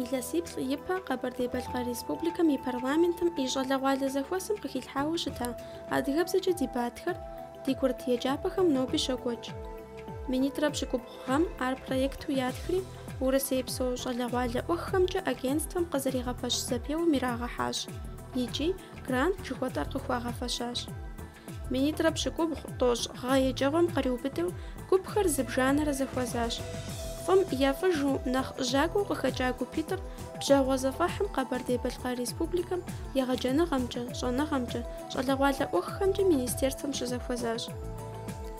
Илъэсиплӏ ипэ Къэбэрдей-Балъкъэр Республикэм и парламентым и щӏалэгъуалэ зэхуэсым къыхилъхьауэ щыта адыгэбзэкӏэ дебатхэр ди курыт еджапӏэхэм ноби щокӏуэкӏ. Минитӏрэ пщыкӏубгъу гъэм ар проекту ятхри, Урысейпсо щӏалэгъуалэ ӏуэхухэмкӏэ агентствэм къызэригъэпэщ зэпеуэм ирагъэхьащ икӏи грант жыхуэтӏэр къыхуагъэфэщащ. Минитӏрэ пщыкӏубгъу тӏощӏ гъэ еджэгъуэм къриубыдэу гупхэр зыбжанэрэ зэхуэзащ. Фӏым я фӏыжу, нэхъ жьакӏуэу къыхэкӏа гупитӏыр бжьэгъуэ зэфӏэхьым Къэбэрдей-Балъкъэр Республикэм егъэджэныгъэмкӏэ, щӏэныгъэмкӏэ, щӏалэгъуалэ ӏуэхухэмкӏэ министерствэм щызэхуэзащ.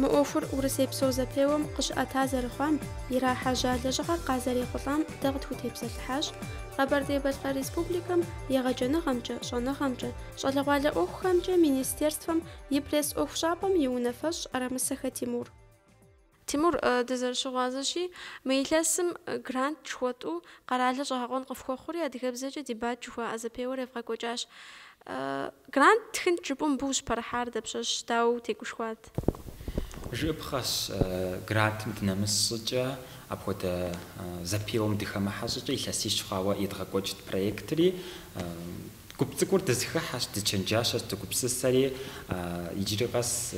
Мы ӏуэхур урысейпсо зэпеуэм къыщыӏэта зэрыхъуам, ирахьэжьа лэжьыгъэр къазэрехъулӏам дэ къытхутепсэлъыхьащ Къэбэрдей-Балъкъэр Республикэм егъэджэныгъэмкӏэ, щӏэныгъэмкӏэ, щӏалэгъуалэ ӏуэхухэмкӏэ Министерствэм и пресс-ӏуэхущӏапӏэм и унафэщӏ Арамысэхэ Тимур. Тимур, дызэрыщыгъуазэщи, мы илъэсым грант жыхуэтӏу къэралыр щӏэгъэкъуэн къыфхуэхъури, адыгэбзэкӏэ дебат жыхуаӏэ зэпеуэр евгъэкӏуэкӏащ. Грант тхынт жыпӏэу мыбы ущыпэрыхьар дапщэщ, дауэ утегушхуат? Жыӏэпхъэщ, грантым дынэмыс щӏыкӏэ, апхуэдэ зэпеуэм дыхэмыхьэ щӏыкӏэ илъэсищ хъуауэ едгъэкӏуэкӏт проектри. Гуп цӏыкӏур дызэхыхьэщ, дычэнджащэщ, дыгупсысэри. Иджыри къэс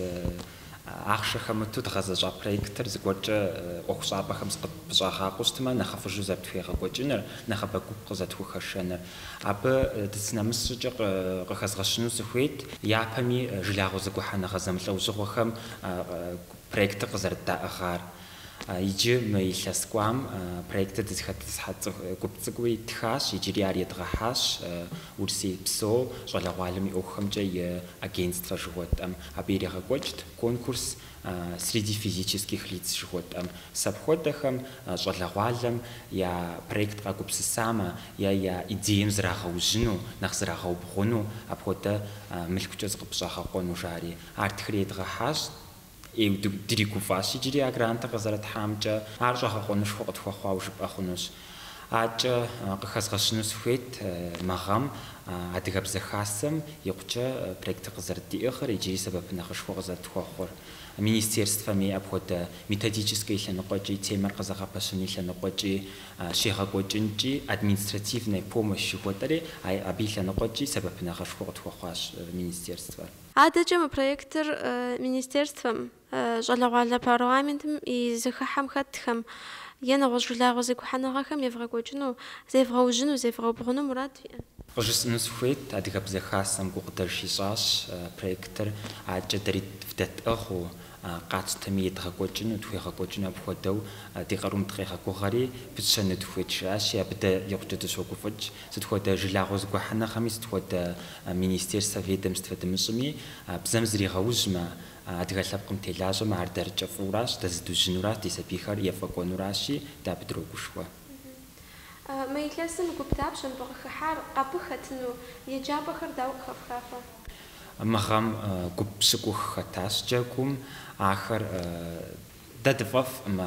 Ахъшэ хэмыту дгъэзэщӏа проектыр зыгуэркӏэ ӏуэхущӏапӏэхэм зыкъыпщӏагъакъуэу щытмэ, нэхъыфӏыжу зэрытхуегъэкӏуэкӏыныр, нэхъыбэ гуп къызэтхухэшэныр. Абы дыщынэмыс щӏыкӏэ къыхэзгъэщыну сыхуейт япэми жылагъуэ зэгухьэныгъэ зэмылӏэужьыгъуэхэм проектыр къызэрыддаӏыгъар. Иджы мы илъэс кӏуам проектыр дызэхэтӏысхьэщ цӏыху гуп цӏыкӏуи ттхащ, иджыри ар едгъэхьащ Урысей псо щӏалэгъуалэм и ӏуэхухэмкӏэ и агентствэ жыхуэтӏэм. Абы иригъэкӏуэкӏт конкурс Среди физических лиц жыхуэтӏэм. Сэ апхуэдэхэм щӏалэгъуалэм я проект къагупсысамэ е я идеем зрагъэужьыну, нэхъ зрагъэубгъуну, апхуэдэ мылъкукӏэ зыкъыпщӏагъэкъуэну жари. Ар ттхри едгъэхьащ. ӏейуэ дригуфӏащ иджыри а грантыр къызэрытхьамкӏэ, ар щӏэгъэкъуэнышхуэ къытхуэхъуауэ жыпӏэ хъунущ. Акӏэ къыхэзгъэщыну сыхуейт мы гъэм Адыгэбзэ Хасэм икъукӏэ проектыр къызэрыддиӏыгъыр иджыри сэбэпынагъышхуэ къызэрытхуэхъур, министерствэми апхуэдэ методическэ и лъэныкъуэкӏи, темэр къызэгъэпэщын и лъэныкъуэкӏи щегъэкӏуэкӏынкӏи, административная помощь жыхуэтӏэри, абы и лъэныкъуэкӏи сэбэпынагъышхуэ къытхуэхъуащ министерствэр. Адэкӏэ мы проектыр Министерствэм, щӏалэгъуалэ парламентым и зэхыхьэм хэтхэм е нэгъуэщӏ жылагъуэ зэгухьэныгъэхэм евгъэкӏуэкӏыну, зевгъэужьыну, зевгъэубгъуну мурад виӏэ. Къыжысӏэну сыхуейт, Адыгэбзэ Хасэм гукъыдэж ищӏащ проектыр, адэкӏэ дэри вдэтӏыгъыу, Къэтщтэми едгъэкӏуэкӏыну, тхуегъэкӏуэкӏыну апхуэдэу ди къарум дыкъегъэгугъэри, пытщэну дыхуейт, жиӏащи, абы дэ икъукӏэ дыщогуфӏыкӏ. Сыт хуэдэ жылагъуэ зэгухьэныгъэми, сыт хуэдэ министерствэ, ведомствэ дымыщӏыми, бзэм зригъэужьмэ, адыгэ лъэпкъым телажьэмэ, ар дэрыкӏэ фӏыуращ, дэ зыдужьынуращ, ди сабийхэр ефӏэкӏуэнуращи, дэ абы дрогушхуэ. Мы илъэсым гуп дапщэ мыбы къыхыхьар? Абы хэтыну еджапӏэхэр дауэ къыхэфхафэ? Мы гъэм гуп пщыкӏух хэтащ джэгум, ахэр дэ дыфӏэфӏӏым,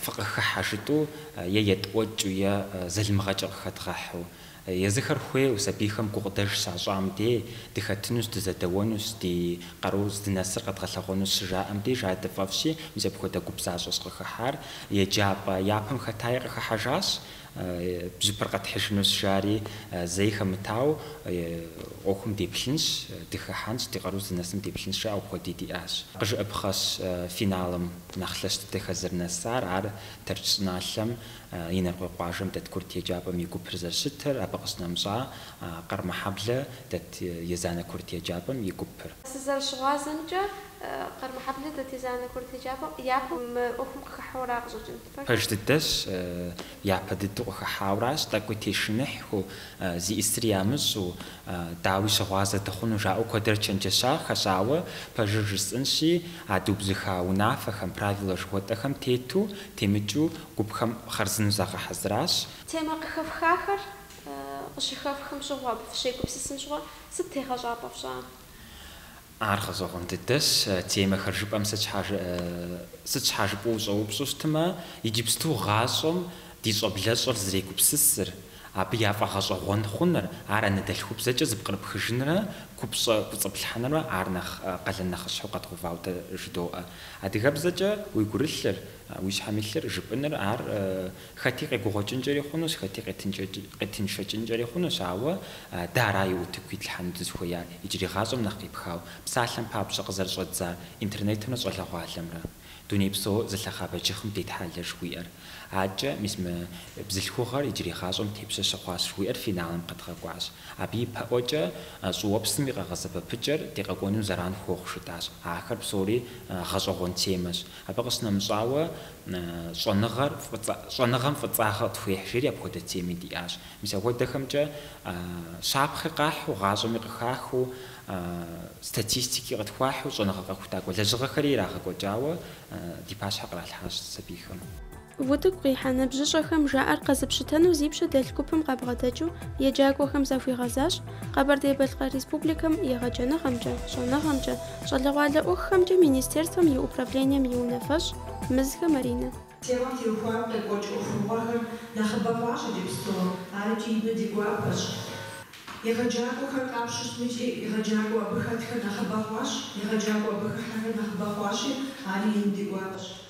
фыкъыхыхьэ жытӏэу е етӏуэкӏыу, е залымыгъэкӏэ къыхэдгъэхьу. Езыхэр хуейуэ сабийхэм гукъыдэж щащӏам дей, дыхэтынущ, дызэдэуэнущ, ди къару здынэсыр къэдгъэлъэгъуэнущ щыжаӏэм деж ар дыфӏэфӏщи, мис апхуэдэ гуп защӏэщ къыхыхьар. Еджапӏэ япэм хэтаи къыхыхьэжащ. Бжьыпэр къэтхьыжынущ, жари, зэи хэмытауэ, ӏуэхум деплъынщ, дыхыхьэнщ, ди къару зынэсым деплъынщ, жаӏэу апхуэди диӏащ. Къыжыӏэпхъэщ финалым нэхъ лъэщ дыдэхэр зэрынэсар, ар Тэрч щӏыналъэм, Инарыкъуей къуажэм дэт курыт еджапӏэм и гупыр зэрыщытыр, абы къыщынэмыщӏа Къэрмэхьэблэ дэт Езанэ курыт еджапӏэм и гупыр. Сызэрыщыгъуазэмкӏэ, Къэрмэхьэблэ дэт Езанэ курыт еджапӏэм япэу мы ӏуэхум къыхыхьэура къыщӏэкӏынт. Пэж дыдэщ, япэ дыдэу къыхыхьауращ, тӏэкӏуи тешыныхьхэу, зиӏисри ямыщӏэу, дауи щыгъуазэ дыхъуну жаӏэу куэдрэ чэнджэщахэщ, ауэ пэжыр жысӏэнщи, а дыубзыхуа унафэхэм, правилэ жыхуэтӏэхэм тету, темыкӏыу гупхэм хъарзынэу загъэхьэзыращ. Темэ къыхэфхахэр къыщыхэфхым щыгъуэ абы фыщегупсысын щыгъуэ сыт тегъэщӏапӏэ фщӏа? Ар гъэщӏэгъуэн дыдэщ. Темэхэр жыпӏэм сыт щхьа сыт щхьа жыпӏэу ущӏэупщӏэу щытмэ, иджыпсту гъащӏэм ди щӏэблэщӏэр зрегупсысыр, абы яфӏэгъэщӏэгъуэн хъуныр, ар анэдэлъхубзэкӏэ зыпкърыпхыжынрэ купщӏэ кӏуэцӏыплъхьэнрэ ар нэхъ къалэн нэхъыщхьэу къэдгъэувауэ дэ жыдоӏэ. Адыгэбзэкӏэ уи гурылъыр, уи щхьэм илъыр жыпӏыныр ар Хэти къегугъуэкӏынкӏэри хъунущ, хэти къетыншэкӏынкӏэри хъунущ, ауэ дэ араи утыку итлъхьэну дызыхуеяр, иджырей гъащӏэм нэхъ къепхауэ, псалъэм папщӏэ къызэрыщӏэддзар Интернетымрэ щӏалэгъуалэмрэ. Дуней псо зылъэхъа бэджыхъым детхьэлэ жыхуиӏэр. Адэкӏэ, мис мы бзылъхугъэр иджырей гъащӏэм тепщэ щыхъуащ жыхуиӏэр финалым къэдгъэкӏуащ. Абы ипэӏуэкӏэ щӏыуэпсым и къэгъэсэбэпыкӏэр ди къэкӏуэнум зэран хуохъу жытӏащ. Ахэр псори гъэщӏэгъуэн темэщ. Абы къыщынэмыщӏауэ, щӏэныгъэр, щӏэныгъэм фӏыцӏагъэ къытхуехь, жери апхуэдэ теми диӏащ. Мис апхуэдэхэмкӏэ щапхъи къахьу, гъащӏэми къыхахыу, статистики къытхуахьу щӏэныгъэ къэхутакӏуэ лэжьыгъэхэри ирагъэкӏуэкӏауэ ди пащхьэ къралъхьащ сабийхэм. Утыку къихьа ныбжьыщӏэхэм жаӏэр къэзыпщытэнэу зи пщэ дэлъ гупым къабгъэдэкӏыу еджакӏуэхэм захуигъэзащ Къэбэрдей-Балъкъэр Республикэм егъэджэныгъэмкӏэ, щӏэныгъэмкӏэ, щӏалэгъуалэ ӏуэхухэмкӏэ Министерствэм и Управлением и унафэщӏ Мызхэ Маринэ. Темэм теухуам къекӏуэкӏ ӏуэхугъуэхэр нэхъыбэ хъуащ иджыпсту, ар икӏи ину ди гуапэщ. Егъэджакӏуэхэр къапщтэу щытми икӏи егъэджакӏуэ абы хэтхэр нэхъыбэ хъуащ, егъэджакӏуэ абы хыхьэхэр нэхъыбэ хъуащи, ари ину ди гуапэщ.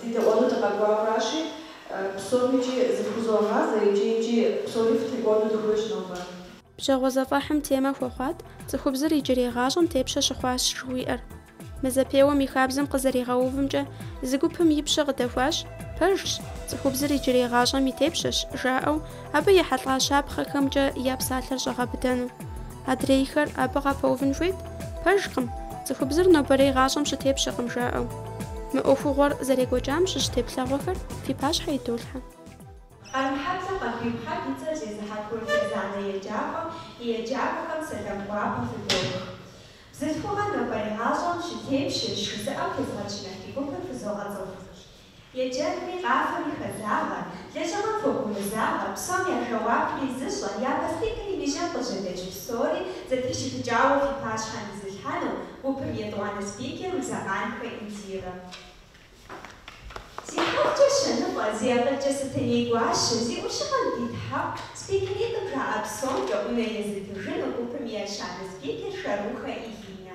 Дыдэӏуэну дыкъэкӏуауэращи, псоми икӏи зыфхузогъазэ, иджы-иджи псори фытекӏуэну дыхуейщ нобэ. Пщэгъуэ зэфӏэхьым темэ хуэхъуат цӏыхубзыр иджырей гъащӏэм тепщэ щыхъуащ жыхуиӏэр. Мы зэпеуэм и хабзэм къызэригъэувымкӏэ, зы гупым и пщэ къыдэхуащ, Пэжщ, цӏыхубзыр иджырей гъащӏэм и тепщэщ, жаӏэу, Абы ехьэлӏа щапхъэхэмкӏэ я псалъэр щӏагъэбыдэну. Адрейхэр абы къапэувын хуейт: Пэжкъым, цӏыхубзыр нобэрей гъащӏэм щытепщэкъым жаӏэу. Мы ӏуэхугъуэр зэрекӏуэкӏам щыщ теплъэгъуэхэр фи пащхьэ идолъхьэ. Къармэхьэблэ Къамбий Мухьэб и цӏэр зезыхьэ курыт езанэ еджапӏэм и еджакӏуэхэм сэлам гуапэ фыдох. Бзылъхугъэ нобэрей гъащӏэм щытепщэщ жызыӏэм тезыгъэчыныхь ди гупыр фызогъэцӏыху. Еджэнри, къафэри хэллагъэ, лэжьыгъэм хуэгумызагъэ, псом я жэуапри зыщӏэ, япэ спикерым и жьэм къыжьэдэкӏ псори зэтрищыпыкӏауэ фи пащхьэм изылъхьэну гупым етӏуанэ спикер Узакъанхэ Индирэ. Зи хьэлкӏэ щэныфӏэ, зи акъылкӏэ Сэтэней гуащэ, зи ӏущыгъэм дитхьэху, спикеритӏым жаӏэ псом гъунэ езытыжыну гупым и ещанэ спикер Шэрухэ Илинэ.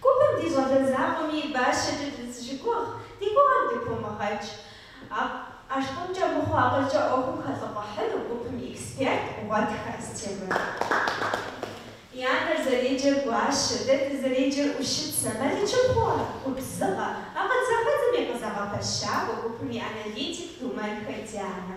Гупым ди щӏалэ закъуэми и бащэкӏэ дызыщыгугъ, ди гугъэр дыпумыгъэкӏ. ӏэштӏымкӏэ мыхъуу акъылкӏэ ӏуэхум хэлӏыфӏыхьыну гупым и эксперт Гъуэтхэ Астемыр. И анэр зэреджэр Гуащэ, дэ дызэреджэр ӏущыцэ. Мэлычыпхъуу ар губзыгъэ, акъыл зэхэдзэм и къызэгъэпэщакӏуэ гупым и аналитик Думэнхэ Дианэ.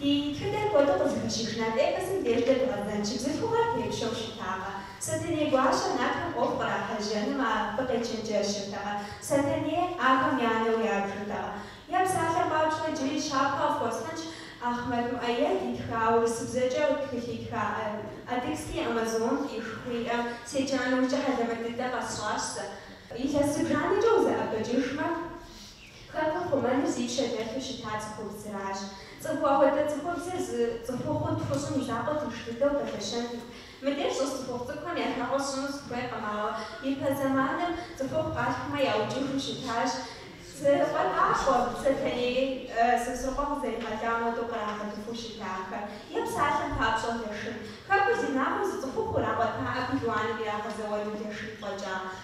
Ди тхыдэр куэду къызыхэщыж нарт эпосым деж дэ дгъэзэнщи, бзылъхугъэр тепщэу щытакъэ? Сэтэней гуащэ нартхэм ӏуэху кърахьэжьэнумэ къыдэчэнджэщыртэкъэ? Сэтэней ахэм я анэу ябжыртэкъэ? Я псалъэм папщӏэ, иджыри щапхъэ къыфхуэсхьынщ Ахъмэт Муӏэед итха, урысыбзэкӏэ тхылъ итха Адыгские амазонки жыхуиӏэ седжа нэужькӏэ хьэлэмэт дыдэ къэсщӏащ сэ. Илъэс зыбжанэкӏэ узэӏэбэкӏыжмэ. Хэкур ихъумэну зи пщэ дэлъу щыта цӏыхубзращ. Цӏыху апхуэдэ цӏыхубзыр зы цӏыхухъу тхущӏым и закъуэ тынш дыдэу пэлъэщырт. Мыбдеж щӏыс цӏыхухъу цӏыкӏухэм я жагъуэ сщӏыну сыхуейкъым, ауэ ипэ зэманым цӏыхухъу къалъхумэ яукӏыху щытащ. Закъуэтӏакъуэ Сэтэней Сосрыкъуэ къызэригъэлам хуэдэу кърагъэлхэу щытахэр, е псалъэм папщӏэ Лашын. Хэкур зи инагъым зы цӏыхухъу ирагъуэтакъым пелуаным ирагъэзэуэну Лашын фӏэкӏа.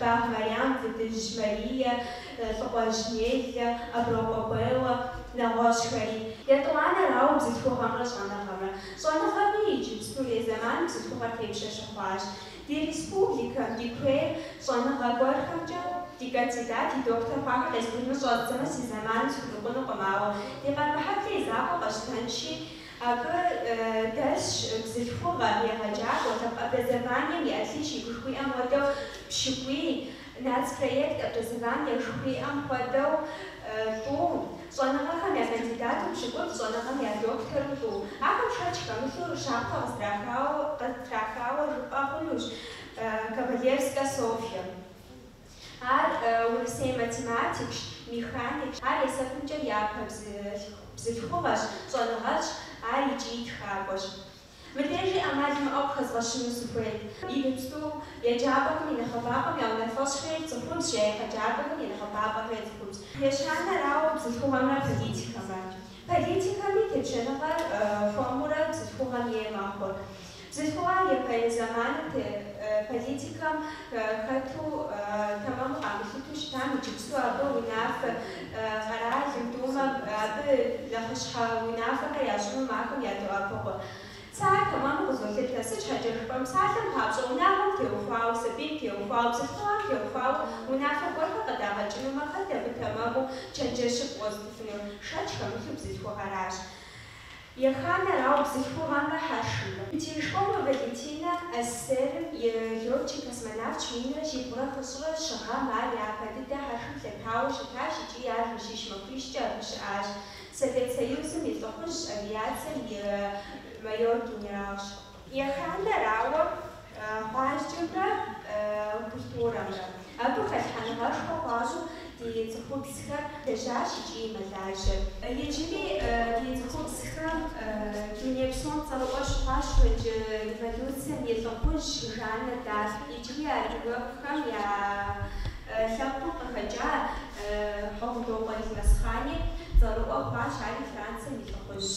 Бакъ Мариам, Фытыжь Марие, Лыкъуэжь Неллэ, Аброкъуэ Беллэ, нэгъуэщӏхэри. Етӏуанэрауэ, бзылъхугъэмрэ щӏэныгъэмрэ. Щӏэныгъэми иджыпстурей зэманым бзылъхугъэр тепщэ щыхъуащ. Ди республикэм, ди куейр щӏэныгъэ гуэрхэмкӏэ, ди кандидат, ди доктор хъуахэр къезбжэкӏыу щӏэздзэмэ си зэманым схурикъунукъым, ауэ ди Къармэхьэблэ и закъуэ къэсщтэнщи, Абы дэсщ бзылъхугъэ, егъэджакӏуэ, образованием и отличник жыхуиӏэм хуэдэу пщыкӏуий, нацпроект образование жыхуиӏэм хуэдэу тӏу, щӏэныгъэхэм я кандидату пщыкӏутӏ, щӏэныгъэм я доктору тӏу. Ахэм шэч хэмылъу щапхъэ къызытрахауэ жыпӏэ хъунущ Ковалевскэ Софье. Ар Урысей математикщ, механикщ. Ар есэпымкӏэ япэ бзылъхугъэщ, щӏэныгъэлӏщ, ар икӏи тхакӏуэщ. Мыбдежи ӏэмал имыӏэу къыхэзгъэщыну сыхуейт. Иджыпсту еджапӏэхэм и нэхъыбапӏэм я унафэщӏхэри цӏыхубзщ, я егъэджакӏуэхэм я нэхъыбапӏэхэри цӏыхубзщ. Ещанэрауэ бзылъхугъэмрэ политикэмрэ. Политикэми тепщэныгъэр хуэмурэ бзылъхугъэм ей мэхъур. Бзылъхугъэр ипэрей зэманым тет политикэм хэту тэмэму къамылъыту щытам иджыпсту абы унафэ къэралым, Думэм, абы нэхъыщхьэ унафэхэр ящӏыным ахэм ядоӏэпыкъу. Сэ ар тэмэму къызолъытэ. Сыт щхьэкӏэ жыпӏэм, псалъэм папщӏэ, унагъуэм теухуауэ, сабийм теухуауэ, бзылъхугъэм теухуауэ унафэ гуэрхэр къыдагъэкӏынумэ, хэт абы тэмэму чэнджэщыфӏ къыуэзытыфынур? Шэч хэмылъу бзылъхугъэращ. Еханэрауэ бзылъхугъэмрэ хьэршымрэ. Терешкова Валентинэ СССР-м и летчик космонавтщ, минрэ щибгъурэ хыщӏрэ щы гъэм ар япэ дыдэ хьэршым лъэтауэ щытащ икӏи ар жэщищ махуищкӏэ абы щыӏащ. Совет Союзым и лӏыхъужьщ, авиацэм и майор-генералщ. Еханэрауэ, гъуазджэмрэ культурэмрэ. Абы хэлъхьэныгъэшхуэ хуащӏу ди цӏыхубзхэр лэжьащ икӏи мэлажьэ. Иджыри ди цӏыхубзхэм дуней псом цӏэрыӏуэ щыхъуащ франджы революцэм и лӏыхъужь Жаннэ д'Арк, иджыри адыгэхэм я лъэпкъым къыхэкӏа Хьэгъундокъуэ Елмэсхъани цӏэрыӏуэ хъуащ, ари Францием и лӏыхъужьщ.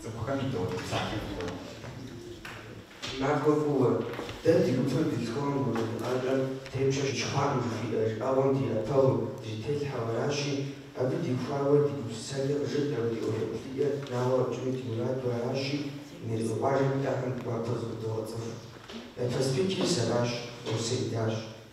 Цӏыхухэм и дохутыр псалъэм хуэдэщ. Махуэ фӏыуэ, дэ ди гупыр Бетховен гурыӏуэныгъэкӏэм тепщэ щыхъуакъым жыхуиӏэ жыӏэгъуэм ди ӏэпэгъум дрителъхьэу аращи, абы теухуауэ ди гупсысэкӏэр къыжытӏэу, ди ӏуэху еплъыкӏэр наӏуэ къэтщӏыну ди мураду аращи, Мелкъэ къуажэм иӏэхэм гуапэу зыфхудогъэцӏыху. Япэ спикерыр сэращ, Орсэ идащ.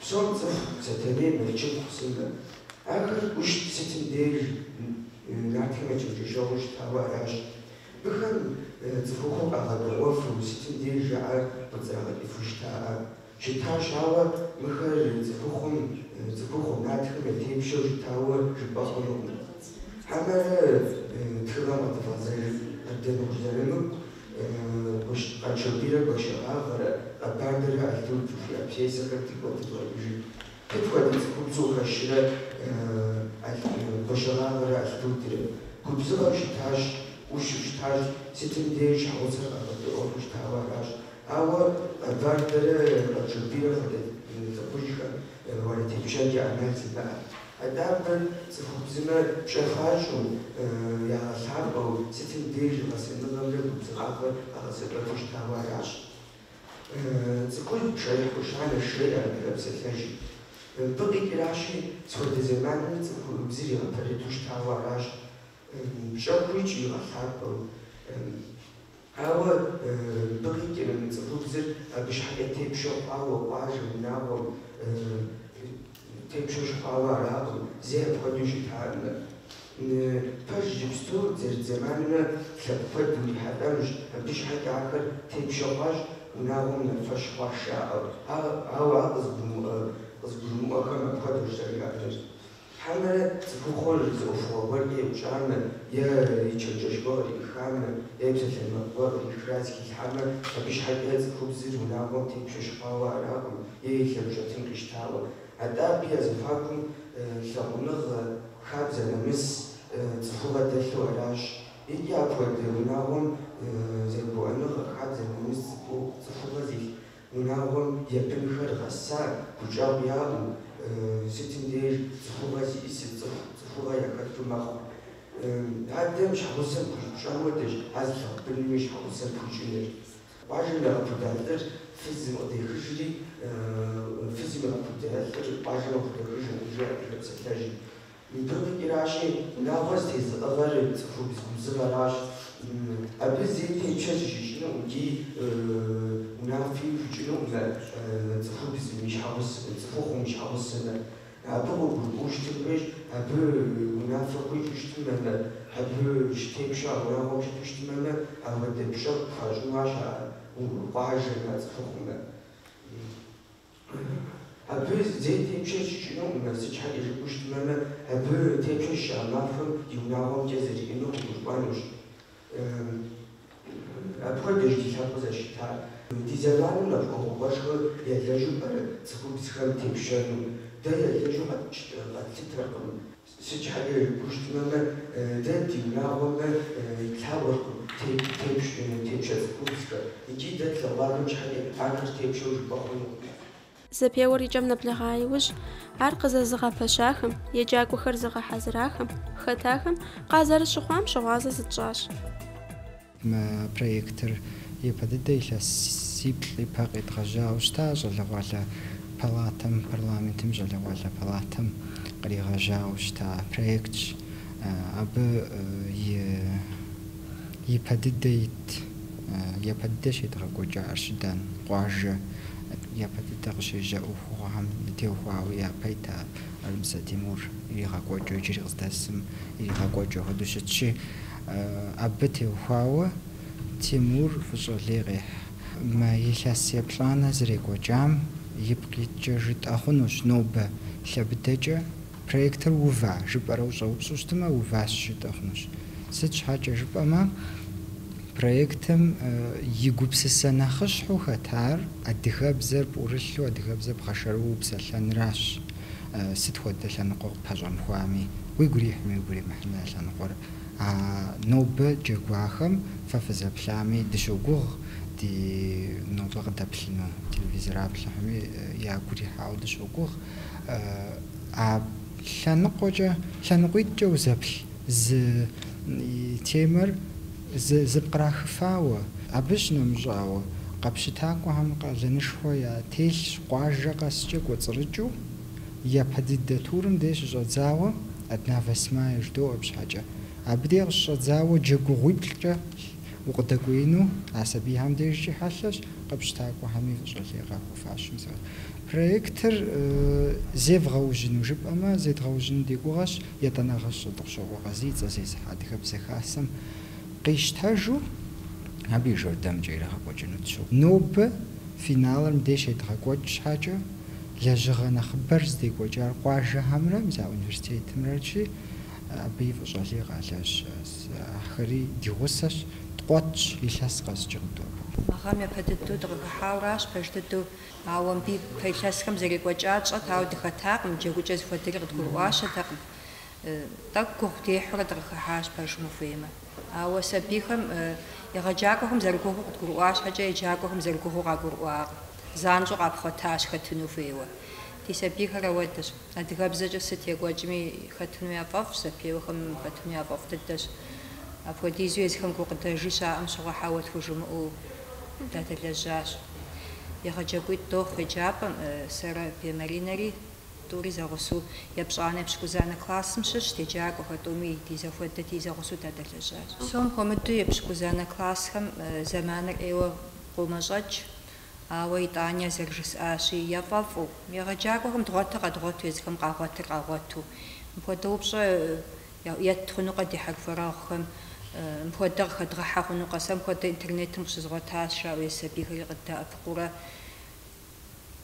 Псоми яцӏыху Сэтэней Мэлычыпхъу сымэ. Ахэр ӏущт сытым деж нартхэм я чэнджэщэгъуу щытауэ аращ. Мыхэм цӏыхухъур къагъэдэӏуэфу сытым деж жаӏэр къыдзрагъэкӏыфу щытакъэ? Щытащ, ауэ мыхэр цӏыхухъум, цӏыхухъу нартхэм ятепщэу щытауэ жыпӏэ хъунукъым. Хьэмэрэ тхыгъэм къыдывгъэзэжыт къыддэмыхужьэрыну Къаншобийрэ Гуащэгъагърэ, Къэбардэрэ Алтудрэ жыхуиӏэ пьесэхэр дигу къэдывгъэкӏыжыт. Сыт хуэдэ цӏыхубзу хэтрэ Гуащэгъагърэ Алтудрэ? Губзыгъэу щытащ, ӏущу щытащ, сытым деж щхьэгъусэр къагъэдэӏуэфу щытауэ аращ. Ауэ Къэбардэрэ Къаншобийрэ хуэдэ лӏыхъужьхэм ар ятепщэкӏэ ӏэмал зимыӏэт. Атӏэ абы цӏыхубзымэ пщӏэ хуащӏу, ягъэлъапӏэу, сытым деж и гъэсэныгъэмрэ губзыгъагъэр къагъэсэбэпу щытауэ аращ. Цӏыхубз пшэрыхь хущанэщ жеӏэ адыгэ псалъэжьым. Мыбы къикӏращи, сыт хуэдэ зэманми цӏыхубзыр игъэпэрыту щытауэ аращ, пщӏэ хуищӏу игъэлъапӏэу. Ауэ мыбы къикӏрэ мы цӏыхубзыр абы щхьэкӏэ тепщэу хъуауэ къуажэм, унагъуэм тепщэу щыхъуауэ аракъым зэи апхуэдэу щытамэ? Пэж иджыпсту дызэрыт зэманым лъэпкъ куэд урихьэлӏэнущ, абы щхьэкӏэ ахэр тепщэу хъуащ унагъуэм нэхъ лъэщ хъуащ жаӏэу, ауэ ар къызыгурымыӏуэхэм апхуэдэущ зэрыжаӏэр. Хьэмэрэ цӏыхухъур зы ӏуэхугъуэ гуэркӏэ еупщӏамэ, е и чэнджэщ гуэ къриӏыхамэ, е и псалъэмакъ гуэ къриӏыхрэ зыхилъхьамэ, абы щхьэкӏэ цӏыхубзыр унагъуэм тепщэ щыхъуауэ аракъым, е и лъэмыщӏ щӏэтын къищтауэ. Атӏэ абы я зэхуакум лъагъуныгъэ, хабзэ, нэмыс, цӏыхугъэ дэлъу аращ. Икӏи апхуэдэ унагъуэм зэгурыӏуэныгъэ, хабзэ, нэмыс, цӏыхугъэ зилъ Унагъуэм я бынхэр гъэсауэ гущӏэгъу яӏэу, сытым деж цӏыхугъэ зиӏэ цӏыху цӏыхугъэ яхэту мэхъу. Адэм щхьэгъусэм хуищӏ пщӏэм хуэдэщ ар зылъагъу быным и щхьэгъусэм хуищӏынур. Къуажэм ягъэпуда лӏыр фызым къыдехыжри, фызым игъэпуда лӏыр къуажэм къыхудэхыжыркъым, жи адыгэ псалъэжьым. Итог къикӏыращи, унагъуэр зытезыӏыгъэр цӏыхубз губзыгъэращ. Абы зэи тепщэ зыщищӏыну икӏи унафэ щищӏынукъым цӏыхубзым и щхьэгъусэхэр, цӏыхухъум и щхьэгъусэхэр. Абы къыгурыӏуэу щытымрищ, абы унафэ хуищӏу щытымэмэ, абы щытепщэу унагъуэм щыту щытымэмэ, апхуэдэ пщӏэ къыпхуащӏынущ а къуажэм, а цӏыхухъумэ. Абы зэи тепщэ зищӏынукъым, сыт щхьэкӏэ жыпӏэу щытмэмэ, абы тепщэ зыщищӏа махуэм и унагъуэм кӏэ зэриӏэнур къыгурыӏуэнущ. Апхуэдэщ ди лъэпкъыр зэрыщытар. Ди зэманым нэхъ ӏуэхугъуэшхуэ ялэжьу пӏэрэ цӏыхубзхэм тепщэну? Дэ ялэжьу къэтлъытэркъым. Сыт щхьэкӏэ жыпӏэу щытмэмэ, дэ ди унагъуэм итлъагъуэркъым тепщэ цӏыхубзхэр, икӏи дэ тлъэгъуахэм щхьэкӏэ ахэр тепщэу жыпӏэ хъунукъым. Зэпеуэр и кӏэм нэблэгъа иужь, ар къызэзыгъэпэщахэм, еджакӏуэхэр зыгъэхьэзырахэм, хэтахэм къазэрыщыхъуам щыгъуазэ зытщӏащ. Мы проектыр япэ дыдэ илъэсиплӏ ипэ къедгъэжьауэ щыта щӏалэгъуалэ палатэм, парламентым щӏалэгъуалэ палатэм къригъэжьауэ щыта проектщ. Абы ипэ дыдэ ит, япэ дыдэ щедгъэкӏуэкӏа Арщыдан къуажэ, япэ дыдэ къыщежьа ӏуэхугъуэхэм теухуауэ япэ ита Армысэ Тимур иригъэкӏуэкӏыу иджыри къыздэсым иригъэкӏуэкӏыу хуэдэу щытщи, Абы теухуауэ Тимур фӏыщӏэ лей къехь. Мы илъэс еплӏанэ зэрекӏуэкӏам ипкъ иткӏэ жытӏэ хъунущ нобэ лъэ быдэкӏэ проектыр ува жыпӏэрэ ущӏэупщӏу щытымэ, уващ жытӏэ хъунущ. Сыт щхьэкӏэ жыпӏэмэ, проектым и гупсысэ нэхъыщхьэу хэтар адыгэбзэр пӏурылъу адыгэбзэр бгъэшэрыуэу упсэлъэныращ. Сыт хуэдэ лъэныкъуэ къыппэщӏэмыхуами, уигу ирихьми уигу иримыхьми а лъэныкъуэр А нобэ джэгуахэм фэ фызэплъами, дыщогугъ ди нобэ къыдэплъыну, телевизореплъхэми ягу ирихьауэ дыщогугъ. А лъэныкъуэкӏэ, лъэныкъуитӏкӏэ узэплъ зы темэр зыпкърахыфауэ, абы щынэмыщӏауэ, къэпщытакӏуэхэм къалэнышхуэ ятелъщ къуажэ къэскӏэ кӏуэцӏрыкӏыу. япэ дыдэ турым дей щыщӏэдзауэ Одна восьмая жыдоӏэ щхьэкӏэ. Абы дей къыщыщӏэдзауэ джэгугъуиплӏкӏэ укъыдэкӏуеину а сабийхэм дежкӏи хьэлъэщ, къэпщытакӏуэхэми фӏыщӏэ лей къахуэфащэу зэрыт. Проектыр зевгъэужьыну жыпӏэмэ, зедгъэужьыну ди гугъэщ, етӏанэгъэ Хьэтӏохъущокъуэ Къазий и цӏэр зезыхьэ Адыгэбзэ Хасэм къищтэжу абы и жэрдэмкӏэ ирагъэкӏуэкӏыну тщохъу. Нобэ финалыр мыбдеж щедгъэкӏуэкӏ щхьэкӏэ, лэжьыгъэ нэхъыбэр здекӏуэкӏар къуажэхэмрэ мис а университетымрэчи, абы и фӏыщӏэ лей къалэжь. Ахэри ди гъусэщ, ткъуэтщ, илъэс къэскӏэ къыдобэм. Мы гъэм япэ дыдэу дыкъыхыхьауэращ, пэж дыдэу. Ауэ мыбы ипэ илъэсхэм зэрекӏуэкӏар тщӏэт, ауэ дыхэтакъым, джэгукӏэ зыхуэдэри къыдгурыӏуащэтэкъым. Тӏэкӏу гугъу дехьурэ дыкъыхыхьащ, пэжым ухуеймэ. Ауэ сабийхэм, егъэджакӏуэхэм зэрыгугъуу къыдгурыӏуа щхьэкӏэ, еджакӏуэхэм зэрыгугъуу къагурыӏуакъым. Занщӏэу къапхъуэтащ хэтыну хуейуэ. Ди сабийхэр ауэдэщ. Адыгэбзэкӏэ сыт екӏуэкӏми хэтыну яфӏэфӏщ, зэпеуэхэм хэтыну яфӏэфӏ дыдэщ. Апхуэдизу езыхэм гукъыдэжи щаӏэм щыгъуэ хьэуэ тхужымыӏэу дадэлэжьащ. Егъэджакӏуитӏ дохъу еджапӏэм, сэрэ, Бе Маринэри, тӏури зэгъусэу, епщӏанэ епщыкӏузанэ классым щыщ ди еджакӏуэхэр, тӏуми ди зэхуэдэти, зэгъусэу дадэлэжьащ. Псом хуэмыдэу епщыкӏузанэ классхэм зэманыр ӏейуэ къомэщӏэкӏ, Ауэ итӏани зэрыжысӏащи, яфӏэфӏу, егъэджакӏуэхэм дгъуэтыр къэдгъуэту, езыхэм къагъуэтыр къагъуэту. Мыпхуэдэ упщӏэ етт хъунукъэ ди хьэрхуэрэгъухэм? Мыпхуэдэ къыхэдгъэхьэ хъунукъэ? Сэ мыпхуэдэ интернетым къыщызгъуэтащ, жаӏэу езы сабийхэри къыддэӏэпыкъуурэ.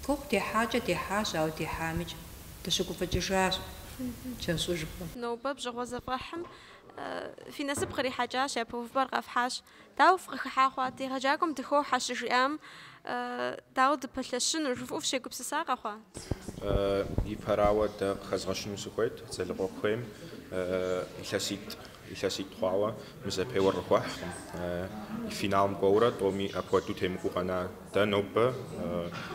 Гугъу дехьакӏэ дехьащ, ауэ дехьамикӏ дыщыгуфӏыкӏыжащ, тфӏэщӏыжкъым. Нобэ бжьыгъуэ зэфӏэхьым фи насып кърихьэкӏащ, япэ увыпӏэр къэфхьащ. Дауэ фыкъыхыхьа хъуат, егъэджакӏуэм дыхохьэ щыжиӏам, дауэ дыпэлъэщынур, жыфӏэу фыщегупсыса къэхъуа? Ипэрауэ, дэ къыхэзгъэщыну сыхуейт Залыкъуэ куейм илъэситӏ, илъэситӏ хъуауэ мы зэпеуэр къыхуэхькъым. Финалым кӏуэурэ тӏоми апхуэдэу темыкӏуу къэна. Дэ нобэ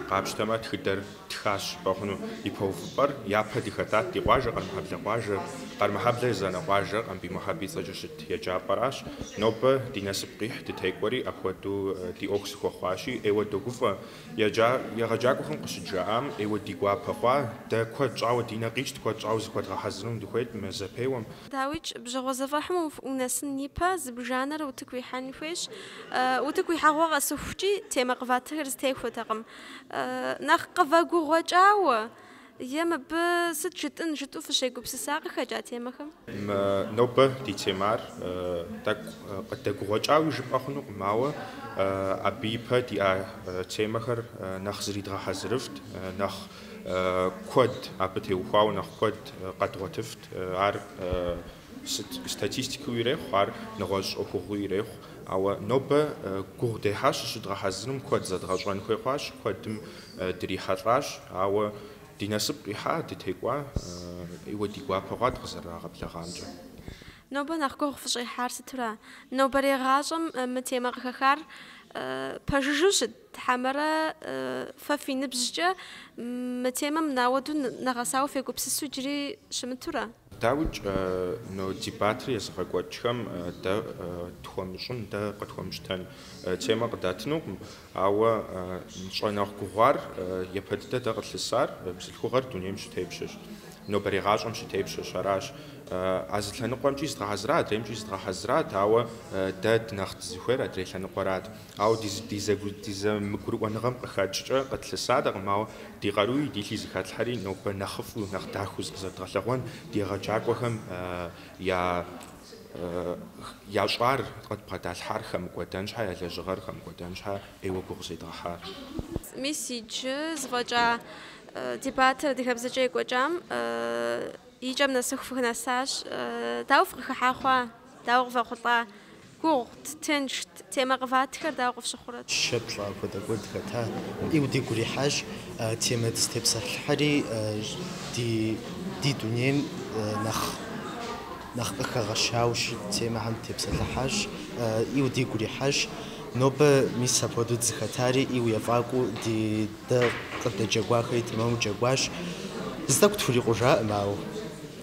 къапщтэмэ, тхыдэр ттхащ жыпӏэ хъуну, ипэ увыпӏэр япэ дыхэтат, ди къуажэ Къэрмэхьэблэ къуажэ, Къэрмэхьэблэ езанэ къуажэр Къамбий Мухьэб и цӏэкӏэ щыт еджапӏэращ. Нобэ ди насып къихь дытекӏуэри, апхуэдэу ди ӏуэху зыхуэхъуащи, ӏейуэ догуфӏэ. Еджа, егъэджакӏуэхэм къыщыджаӏам ӏейуэ ди гуапэ хъуа, дэ куэд щӏауэ ди нэ къикӏт, куэд щӏауэ зыхуэдгъэхьэзырыну дыхуейт мы зэпеуэм. Дауикӏ, бжьэгъуэ зэфӏэхьым унэсын ипэ, зыбжанэрэ утыку уихьэн хуейщ. Утыку уихьэгъуэ къэсыхукӏи, темэ къыватхэр зытехуэтэкъым. Нэхъ къывэгугъуэкӏауэ е мыбы сыт жытӏын жытӏу фыщегупсыса къыхэкӏа темэхэм? Нобэ ди темар тӏэкӏу къыдэгугъуэкӏауи жыпӏэ хъунукъым, ауэ абы ипэ диӏа темэхэр нэхъ зридгъэхьэзырыфт, нэхъ Куэд, абы теухуауэ нэхъ куэд къэдгъуэтыфт. Ар сыт статистикэу ирехъу, ар нэгъуэщӏ ӏуэхугъуи ирехъу. Ауэ нобэ гугъу дехьащ зыщыдгъэхьэзырым, куэд зэдгъэщӏэн хуей хъуащ, куэдым дрихьэлӏащ. Ауэ ди насып къихьа, дытекӏуа, ӏейуэ ди гуапэ хъуат къызэрырагъэблэгъамкӏэ. Нобэ нэхъ гугъу фыщӏехьар сыту ара? Нобэрей гъащӏэм мы темэ къыхэхар пэжыжу щыт Тхьэмэрэ фэ фи ныбжькӏэ мы темэм апхуэдэу нэгъэсауэ фегупсысу джыри щымытурэ? Дауикӏ, но дебатыр езыгъэкӏуэкӏхэм дэ тхуэмыщӏын, дэ къытхуэмыщтэн темэ къыдатынукъым. Ауэ нщӏэ нэхъ гугъуар, япэ дыдэ дэ къылъысар, бзылъхугъэр дунейм щытепщэщ, нобэрей гъащӏэм щытепщэщ. Аращ, а зы лъэныкъуэмкӏи зыдгъэхьэзыра, адреймкӏи зыдгъэхьэзырат, ауэ дэ дынэхъ дызыхуейр адрей лъэныкъуэрат. Ауэ ди зэмыгурыӏуэныгъэм къыхэкӏкӏэ къытлъысатэкъым, ауэ ди къаруи ди лъи зэхэтлъхьэри нобэ нэхъыфӏу, нэхъ дахэу зыкъызэрыдгъэлъэгъуэн ди егъэджакӏуэхэм ящӏар къыдбгъэдалъхьар хэмыкӏуэдэн щхьэ, я лэжьыгъэр хэмыкӏуэдэн щхьэ ӏейуэ гугъу зедгъэхьар. Мис иджы зэфӏэкӏа дебатыр адыгэбзэкӏэ екӏуэкӏам и кӏэм нэсыху фынэсащ. Дауэ фыкъыхыхьа хъуа? Дауэ къывэхъулӏа? Гугъут, тыншт, темэ къыватхэр дауэ къыфщыхъурэт? Щэ пщӏа апхуэдэ куэд хэта? Иу дигу ирихьащ темэ дызытепсэлъыхьри, ди ди дунейм нэхъ нэхъ къыхэгъэщау щыт темэхэм дытепсэлъыхьащ. Иу дигу ирихьащ. Нобэ мис апхуэдэу дызыхэтари иу ефӏакӏуэу ди дэ къыдэджэгуахэри тэмэму джэгуащ. Зытӏэкӏу тхурикъужакъым, ауэ.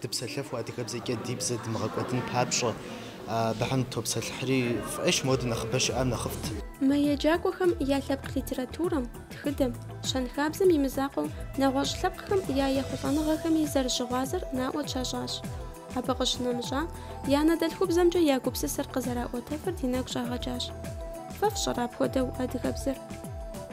Дыпсэлъэфу адыгэбзэкӏэ ди бзэ дымыгъэкӏуэдын папщӏэ, абыхэм дытопсэлъыхьри фӏыщ, мопхуэдэ нэхъыбэ щыӏам нэхъыфӏт. Мы еджакӏуэхэм я лъэпкъ литературэм, тхыдэм, щэнхабзэм и мызакъуэу нэгъуэщӏ лъэпкъхэм я ехъулӏэныгъэхэми зэрыщыгъуазэр наӏуэ тщащӏащ. Абы къыщынэмыщӏа, я анэдэлъхубзэмкӏэ я гупсысэр къызэраӏуэтэфыр ди нэгу щӏагъэкӏащ. Фэ фщӏэрэ апхуэдэу адыгэбзэр?